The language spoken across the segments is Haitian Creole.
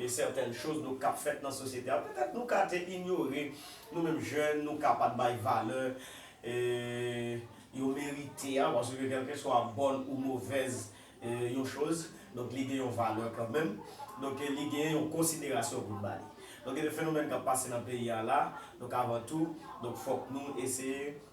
Gen certaines choses nou kap fèt nan sosyete a petèt nou ka te inyore nou menm jèn nou ka pat bay valè yo merite a paske kèlkeswa bòn ou movèz yon choz donk li gen yon valè kanmenm donk li gen yon konsiderasyon pou n ba li donk gen de fenomèn kap pase nan peyi a la donk avan tou donk fòk nou eseye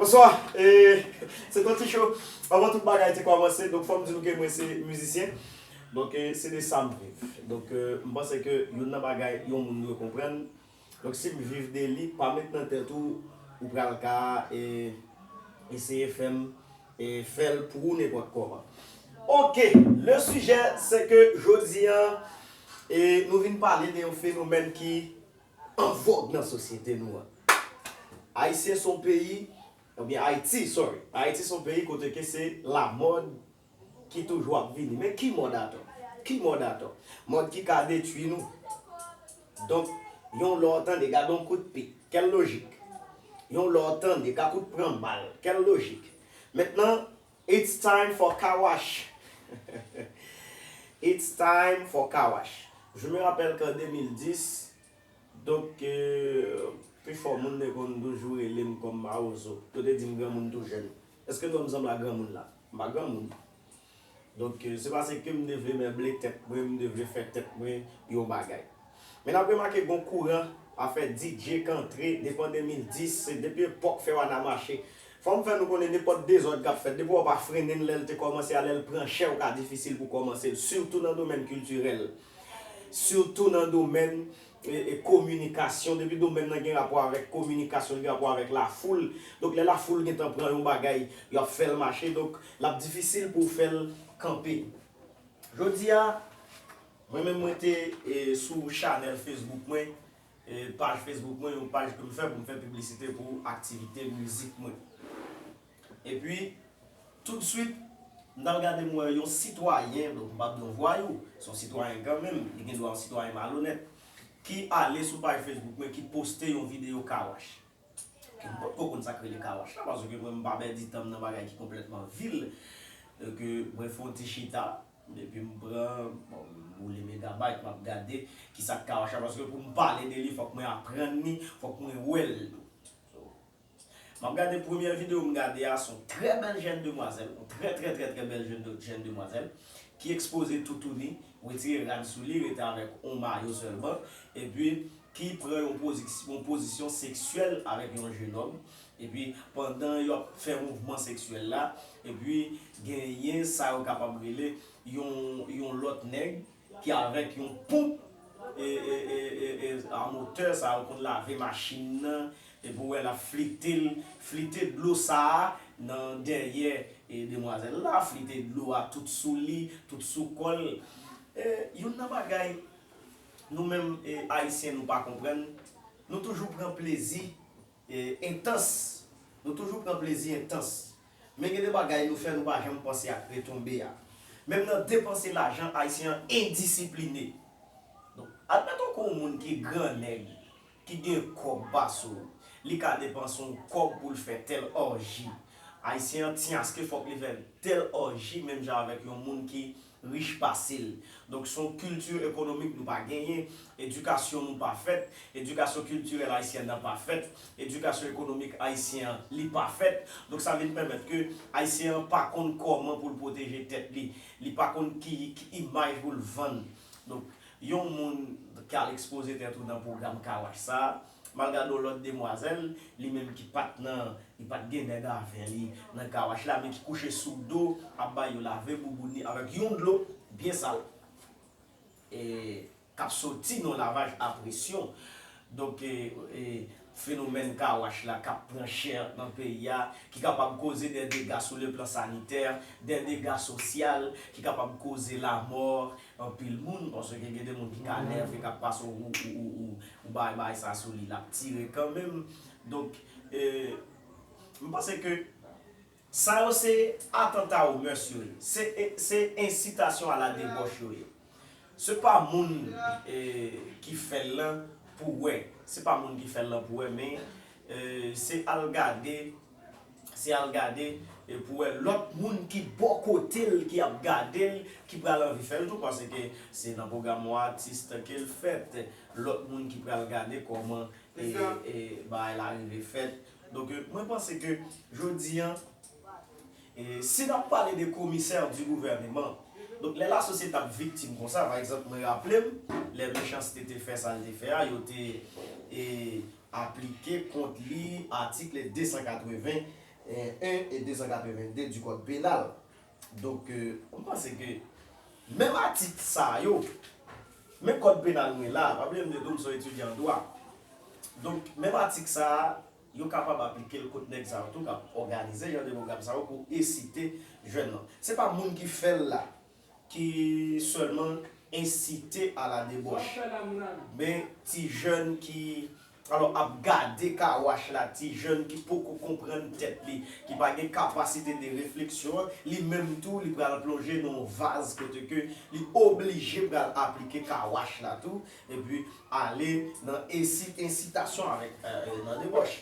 Bonswa e se ton ti cho avan tout bagay te kòmanse donk fòm di nou ke mwen se mizisyen donk se de sam viv donk mpanse ke youn nan bagay yon moun dwe konprann Donk sim viv de li pa met nan tèt ou ou pral ka eseye fèm fèl pou ou nenpòt kòman ok le sijè se ke jodi an nou vin pale de yon fenomèn ki an vòg nan sosyete nou an ayisyen son peyi oubyen ayiti sorry ayiti son peyi kote ke se lamòd. Ki toujou ap vini. Men ki mòd atò? Ki mòd atò? Mòd ki ka detui nou. Donk, yon lò w tande, gade yon kout pik. Kèl lojik? Yon lò w tande, ka kout pran bal. Kèl lojik? Mentnan, it's time for car wash! It's time for car wash! Je me rappelle qu'en 2010, Donk, pifò moun te konn toujou rele m kòm Mawozo. Yo te di m granmoun tou jèn. Èske non m sanble ak granmoun la? M pa granmoun. Donk, se pase ke m te vle mèble tèt mwen, m te vle fè tèt mwen yon bagay. Men n ap remake gen yon kouran afè DJ k antre devan 2010, se depi epòk Fè Wana Mache. Fò m fè nou konnen nenpòt dezòd k ap fèt, depi w pa frennen l lè l te kòmanse a, lè l pran chè ou ka difisil pou w kòmanse l, sitou nan domèn kiltirèl. Sitou nan domèn kominikasyon, depi domèn nan gen rapò avèk kominikasyon, li gen rapò avèk lafoul. Donk lè lafoul gen tan pran yon bagay, yo ap fè l mache. Donk l ap difisil pou w fè l kanpe. Jodi a, mwen menm mwen te sou chanèl Facebook mwen, paj Facebook mwen, yon paj ke m fè pou m fè piblisite pou aktivite mizik mwen. Epi, toudswit, m t al gade m wè yon sitwayen, donk m pa p di yon vwayou, se yon sitwayen kanmenm, li gen dwa yon sitwayen malonèt, ki ale sou paj Facebook mwen ki poste yon videyo kawach. Ke m potko konn sa k rele kawach la, paske mwen m pa pèdi tan m nan bagay ki konplètman vil. Donk, mwen fè yon ti chita, epi m pran, bon, m boule megabayt, m ap gade ki sa k kawach la, paske pou m pale de li fòk mwen aprann li, fòk mwen wè l tou. Map gade premyè video m gade a son trè bèl jèn demwazèl on trè trè trè trè bèl jèn demwazèl ki ekspoze toutouni wetire rad sou li rete avèk on mayo sèlman epi ki pran yon pozisyon seksyèl avèk yon jenòm epi pandan yap fè mouvman seksyèl la epi genyen sa yo kapab rele yon yon lòt nèg ki avèk yon ponp e e e e a motè sa yo konn lave machin nan Epi ou wè lap flite l, flite dlo sa a nan dèyè demwazèl la, flite dlo a tout sou li, tout sou kò l. Youn nan bagay nou menm Ayisyen nou pa konprann, nou toujou pran plezi entans, nou toujou pran plezi entans. Men gen de bagay nou fè nou pa janm panse ak retonbe a. Menm nan depanse lajan Ayisyen an endisipline. Donk, admeton ke w moun ki gran nèg. ki gen kòb pa sou li ka depanse yon kòb poul fè tèl òji ayisyen an tiaske fòk li fè tèl òji menm jan avèk yon moun ki rich pasel donk son kilti ekonomik nou pa genyen edikasyon nou pa fèt edikasyon kiltirèl ayisyen nan pa fèt edikasyon ekonomik ayisyen an li pa fèt donk sa vin pèmèt ke ayisyen an pa konn kòman poul pwoteje tèt li li pa konn ki imaj poul vann donk Yon moun k al ekspoze tèt ou nan pwogram kawach sa, m al gade yon lòt demwazèl, li menm ki pa t nan, li pa t gen nèg avè li nan kawach la men ki kouche sou do ap ba yo lave boubouni avèk yon dlo byen sal e k ap soti nan yon lavaj a presyon. Donk fenomèn car wash la kap pran chè nan peyi a, ki kapab koze dè dega sou le plan sanitè, dè dega sosyal, ki kapab koze lamò anpil moun, paske gen de moun ki ka nève kap pase w ou bay bagay sa sou li lap tire kanmenm. Donk m panse ke Sa yo se atanta o mœurs yo ye. Se se incitation à la debauche yo ye. Se pa moun ki fè l lan pou wè. Se pa moun ki fè l lan pou wè men se al gade se al gade pou wè lòt moun ki bò kote l ki ap gade l ki pral anvi fè l tou paske se nan pwogram on artiste ke l fèt. Lòt moun ki pral gade kòman bagay la rive fèt. Donk mwen panse ke jodi an, si nap pale de komisè di gouvèneman, donk lè lasosyete ap viktim konsa, pa egzanp mwen raple m, lè Mechanste te fè sa l te fè a, yo te aplike kont li atikl 281 e 282 di kòd penal. Donk, m panse ke menm atik sa yo, men kòd penal mwen la a, pa bliye m di tou m son etidyan an dwa, donk menm atik sa a, yo kapab aplike l kont nèg sa yo tou k ap òganize jan de pwogram sa yo pou esite jèn lan. Se pa moun ki fè l la ki sèlman ensite a la debòch, men ti jèn ki. Alò ap gade car wash la ti jèn ki poko konprann tèt li, ki pa gen kapasite de refleksyon, li menm tou li pral plonje nan yon vaz kote ke li oblije pral aplike car wash la tou, epi ale nan ensi ensitasyon avèk nan debòch.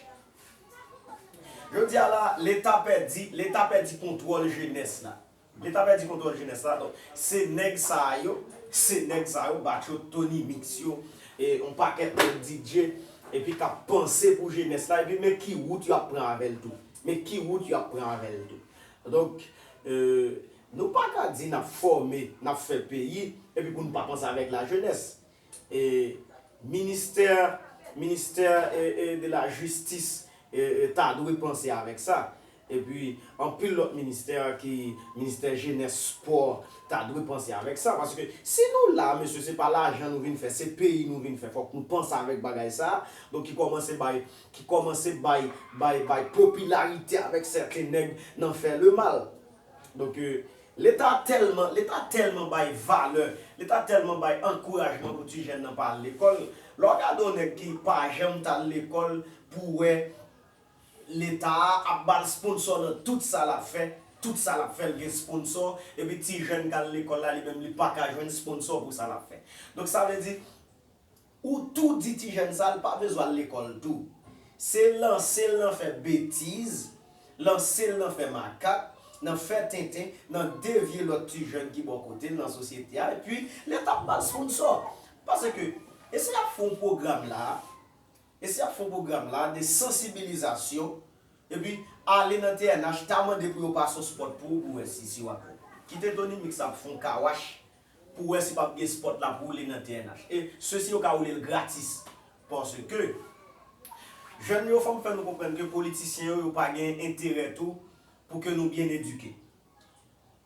Jodi a la, leta pèdi, leta pèdi kontwòl jenès la. Leta pèdi kontwòl jenès la donk se nèg sa a yo se nèg sa yo batcho tony mix yo e yon pakèt lòt DJ epi k ap panse pou jenès la epi men ki wout yo ap pran avè l tou men ki wout yo ap pran avè l tou donk nou pa ka di n ap fòme n ap fè peyi epi pou n pa panse avèk lajenès. Ministè Ministè de la jistis ta dwe panse avèk sa. Epi anpil lòt ministè ki ministè jenès spò ta dwe panse avèk sa. Paske si nou la mesye se pa lajan nou vin fè se peyi nou vin fè fòk nou panse avèk bagay sa. Donk ki kòmanse bay ki kòmanse bay bay bay popilarite avèk sèten nèg nan fè lemal. Donk, Leta tèlman, Leta tèlman bay valè, Leta tèlman bay ankourajman pou ti jèn nan pa al lekòl, lè w gade yon nèg ki pa janm t al lekòl pou w wè Leta a ap ba l sponsò nan tout sa l ap fè, tout sa l ap fè l gen sponsò, epi ti jèn k al lekòl la li menm li pa ka jwenn sponsò pou sa l ap fè. Donk sa vle di, Ou tou di ti jèn sa l pa bezw al lekòl tou. Se lanse l nan fè betiz, lanse l nan fè makak, nan fè tenten, nan devye lòt ti jèn ki bò kote l nan sosyete a epi leta ap bal sponsò. Paske e si yap fè yon pwogram la, e si yap fè yon pwogram la de sansibilizasyon epi ale nan TNH ta mande pou yo pase yon spòt pou ou pou wè si si wap wè. Kite Tony Mix ap fè yon kawach pou wè si pap gen spot lap woule nan TNH e sesi yo ka woule l gratis paske jèn yo fòm fè nou konprann ke politisyen yo yo pa gen enterè tou pou ke nou byen edike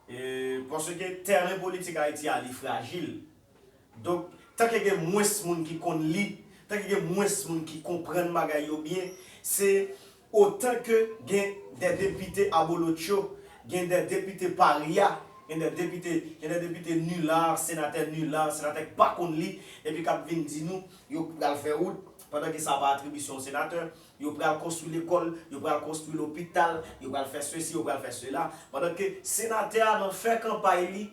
e paske tèren politik Ayiti a li frajil donk tanke gen mwens moun ki konn li tanke gen mwens moun ki konprann bagay yo byen se Otan ke gen dè depite abolotcho, gen dè depite parya, gen dè depite, gen dè depite nular, senatè nular, senatè k pa konn li, epi k ap vin di nou yo pral fè wout, pandan ke sa pa atribisyon senatè, yo pral konstwi lekòl, yo pral konstwi lopital, yo pral fè sesi, yo pral fè sela, pandan ke senatè a nan fè kanpay li,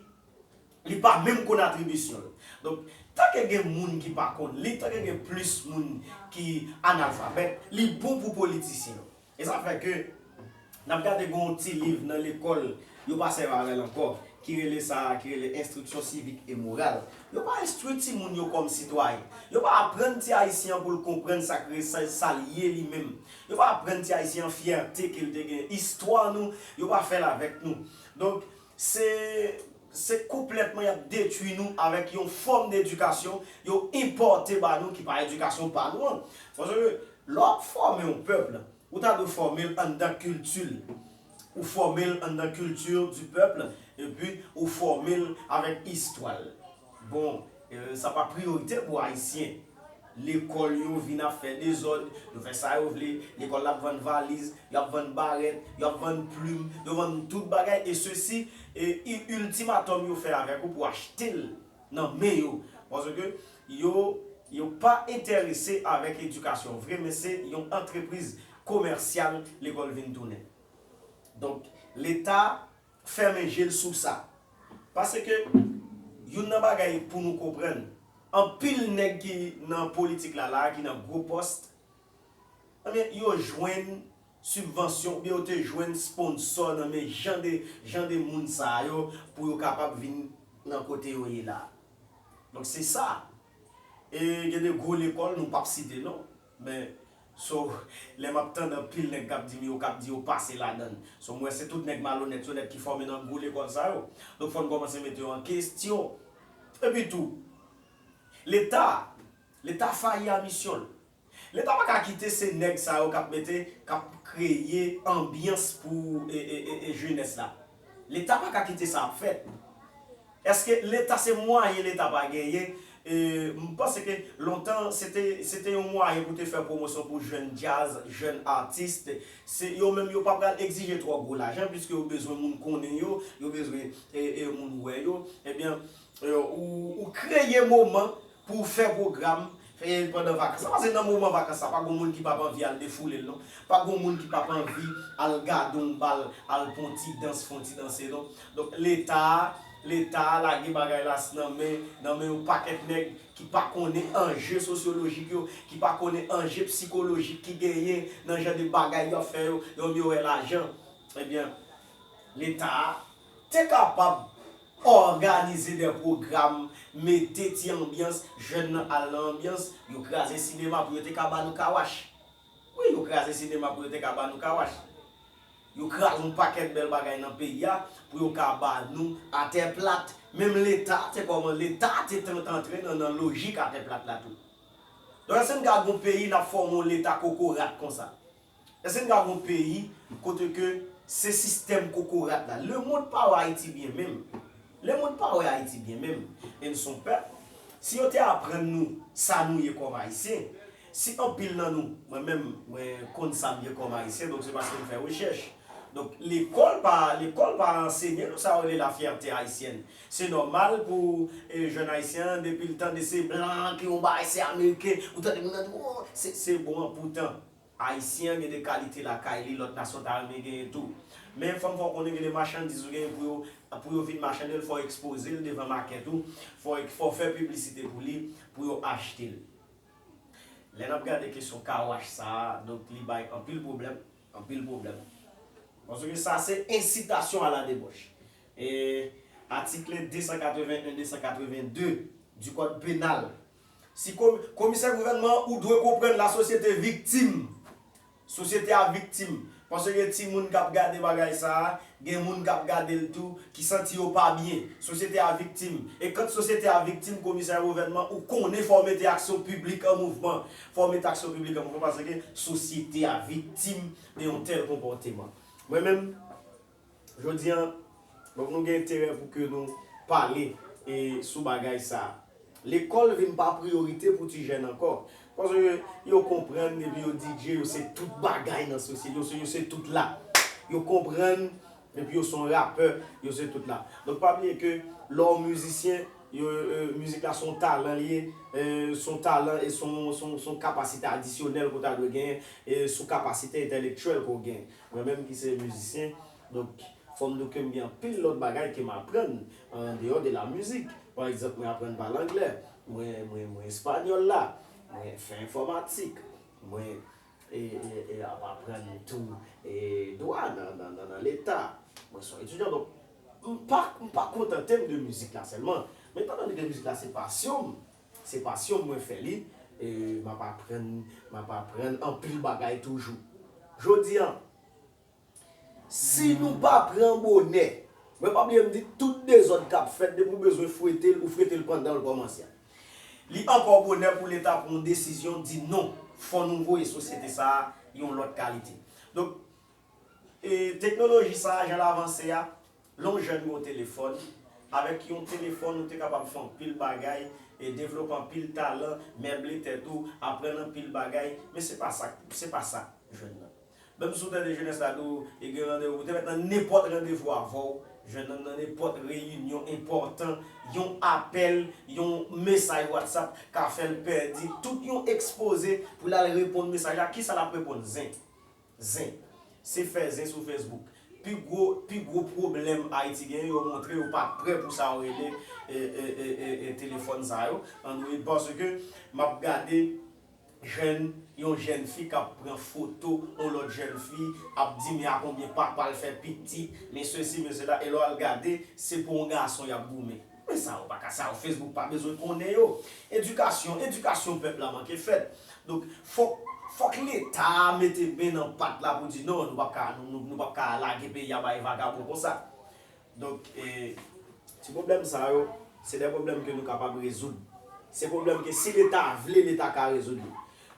Li pa menm konn atribisyon l. Donk, tanke gen moun ki pa konn li, tanke gen plis moun ki analfabèt, li bon pou politisyen yo. E sa fè ke n ap gade gen yon ti liv nan lekòl, yo pa sèvi avè l ankò, ki rele sa a, ki rele Instruction civique et morale. Yo pa enstwi timoun yo kòm sitwayen. Yo pa aprann ti Ayisyen an pou l konprann sa k re, sa, sa l ye li menm. Yo pa aprann ti Ayisyen an fyète ke l te gen, istwa nou, yo pa fè l avèk nou. Donk. Se se konpletman yap detwi nou avek yon fom de edikasyon yo enpote ba nou ki pa edikasyon pa nou an. Paske le w ap fome yon peuple, ou ta dwe fome l anndan kilti l. Ou fome l anndan culture du peuple epi ou fome l avek istwa l. Bon, sa pa priyorite pou Ayisyen. Lekòl yo vin ap fè dezòd, yo fè sa yo vle, lekòl la ap vann valiz, yo ap vann barèt, yo ap vann plim, yo vann tout bagay e sesi e iltimatòm yo fè avèk ou pou achte l nan men yo. Paske yo yo pa enterese avèk edikasyon vre men se yon antrepriz komèsyal lekòl vin tounen. Donk, Leta fèmen je l sou sa. Paske, youn nan bagay pou nou konprann, anpil nèg ki nan politik la la a, ki nan gwo pòst, enben, yo jwenn sibvansyon oubyen yo te jwenn sponsò nan men jan de, jan de moun sa a yo, pou yo kapab vin nan kote yo ye la a. Donk se sa. E gen de gwo lekòl, nou p ap site non. Men so lè map tand anpil nèg kap dim yo kap di yo pase ladann so m wè se tout nèg malonèt yo nèt ki fòme nan gwo lekòl sa yo donk fòn kòmanse mete yo an kestyon epi tou leta leta fayi a misyon l leta paka kite se nèg sa yo kap mete kap kreye anbyans pou jenès la. Leta paka kite sa ap fèt. Eske leta se mwayen leta pa genyen m panse ke lontan se te yon mwayen pou te fè pwomosyon pou jèn djaz, jèn atis se yo menm yo pa pral egzije twò gwo lajan piske yo bezwen moun konnen yo, yo bezwen moun wè yo ebyen ou kreye moman Pou w fè pwogram pandan vakans la. Pase nan moman vakans la, pa gen yon moun ki pap anvi al defoule l non. Pa gen yon moun ki pap anvi al gade yon bal, al pran yon ti dans, fè yon ti danse non. Donk Leta, Leta lage bagay la nan men, nan men yon pakèt nèg ki pa konnen anje sosyolojik yo, ki pa konnen anje psikolojik ki genyen nan jan de bagay y ap fè yo. Yo menm yo wè lajan. Ebyen Leta, te kapab òganize dè pwogram, mete ti anbyans, jèn nan al nan anbyans, yo kraze sinema pou yo te ka ba nou kawach. Wi, yo kraze sinema pou yo te ka ba nou kawach. Yo kraze yon pakèt bèl bagay nan peyi a pou yo ka ba nou atè plat. Menm Leta te kòman, Leta te antre nan nan lojik atè plat la tou. Donk èske n ka gen yon peyi n ap fòme yon Leta kokorat konsa? Èske n ka gen yon peyi kote ke se sistèm kokorat la? Lemond pa wè Ayiti byen menm. Lemond pa wè Ayiti byen menm. E n son pèp, si yo te aprann nou sa nou ye kòm Ayisyen, si anpil nan nou, mwen menm, mwen konn sa m ye kòm Ayisyen, donk se paske m fè rechèch. Donk lekòl pa, lekòl pa ansenye nou sa yo rele la fierté haïtienne. Se nòmal pou jèn Ayisyen an, depi l tande se blan ki yon bagay, se ameriken, ou tande moun nan di, o, se bon an poutan. Ayisyen an gen de kalite lakay li lòt nasyon ta renmen genyen tou. Men fò m fè w konnen gen de machandiz ou genyen pou yo pou yo vin machande l fò w ekspoze l devan makèt ou, fò w fò w fè piblisite pou li pou yo achte l. Lè n ap gade kesyon kawach sa a donk li bay anpil pwoblèm, anpil pwoblèm. Paske sa se ensitasyon a la debòch. E atikle 281, 282 di kòd penal Si komi, komisè gouvènman an ou dwe konprann la sosyete viktim. Sosyete a viktim. Paske gen ti moun kap gade bagay sa a, gen moun kap gade l tou ki santi yo pa byen. Sosyete a viktim. E kant sosyete a viktim komisè gouvènman ou konnen fò w mete aksyon piblik an mouvman. Fò w mete aksyon piblik an mouvman paske sosyete a viktim de yon tèl konpòteman. Mwen menm. Jodi an, donk nou gen enterè pou ke nou pale sou bagay sa a. Lekòl vin pa priyorite pou ti jèn ankò. Paske yo konprann depi yo DJ yo se tout bagay nan sosyete, yo se yo se tout la. Yo konprann depi yo son rapè, yo se tout la. Donk pa bliye ke lè w mizisyen, mizik la son talan li ye, son talan e son kapasite adisyonèl ke w ta dwe genyen sou kapasite entèlektyèl ke w genyen. Mwen menm ki se mizisyen, donk fò m di w ke m gen anpil lòt bagay ke m aprann an deyò de la mizik. Pa egzanp, mwen aprann pale anglè, mwen mwen espanyòl la, mwen fè enfòmatik, mwen e ap aprann tou e dwa nan leta, mwen son etidyan. Donk m pa m pa kontante m de mizik la sèlman, men etan done ke mizik la se pasyon m, Se pasyon m mwen fè li e m ap aprann m ap aprann anpil bagay toujou. Jodi an, si nou pa pran bonè, mwen pa bliye m di tout dezòd k ap fèt depi w bezwen fwete l ou frete l pandan l kòmanse a. Li ankò bonè pou leta pran yon desizyon di non, fò nou voye sosyete sa a yon lòt kalite. Donk, e teknoloji sa a jan l avanse a, Lè w jèn gen yon telefòn, avèk yon telefòn ou te kapab fè anpil bagay, devlope anpil talan, meble tèt ou, aprann anpil bagay, men se pa sa, se pa sa jèn nan. Menm si w tande jenès la di w e gen randevou pou te fèt nan nenpòt randevou avè w, jèn nan nan nenpòt reyinyon enpòtan, yon apèl, yon mesaj whatsapp ka fè l pèdi tout yon ekspoze pou l al reponn mesaj la, kisa l ap reponn? Zen. Zen. Se fè zen sou Facebook. Pi gwo pi gwo pwoblèm Ayiti genyen yo montre yo pa prè pou sa yo rele telefòn sa yo Android paske m ap gade jèn yon jèn fi k ap pran foto yon lòt jèn fi ap di men a konbyen papa l fè pitit men sesi men sela e lè w al gade se pou yon gason y ap goumen. Men sa yo pa ka, sa yo Facebook pa bezwen konnen yo. Edikasyon, edikasyon pèp la manke fèt. Donk fòk, fòk leta mete men nan pat la pou di non, nou pap ka, nou pap ka lage peyi a bay vagabon konsa. Donk e, ti pwoblèm sa yo, se de pwoblèm ke nou kapab rezoud. Se pwoblèm ke si leta vle, leta ka rezoud li.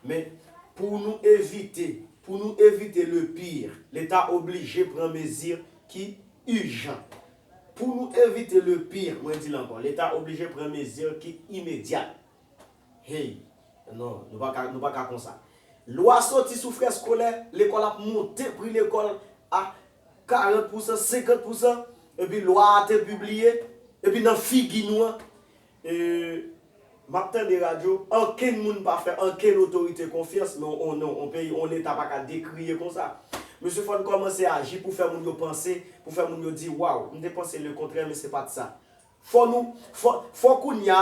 Men, pou nou evite, pou nou evite le pire, leta oblije pran mezi ki ijan. Pou nou evite le pire, mwen di l ankò, Leta oblije pran mezi ki imedyat. Hey! Non, nou pa ka, nou pa ka konsa. Lwa soti sou frè skolè, lekòl ap monte pri lekòl a 40 pousan, 50 pousan, epi lwa a te pibliye, epi nan figi nou an, E map tande radyo, ankenn moun pa fè ankenn otorite konfyans men on non, on peyi, on leta pa ka dekriye konsa. Mesye fòn kòmanse aji pou fè moun yo panse, pou fè moun yo di waw, m te panse le kontrè men se pat sa. Fò nou, fò, fò kounya,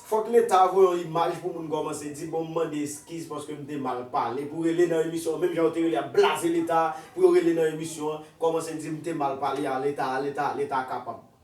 fòk leta voye on imaj pou moun kòmanse di bon m mande eskiz paske m te mal pale, pou rele nan emisyon an, menm jan yo te rele ap blaze leta, pou yo rele nan emisyon an, kòmanse di m te mal pale a leta, leta, leta kapab.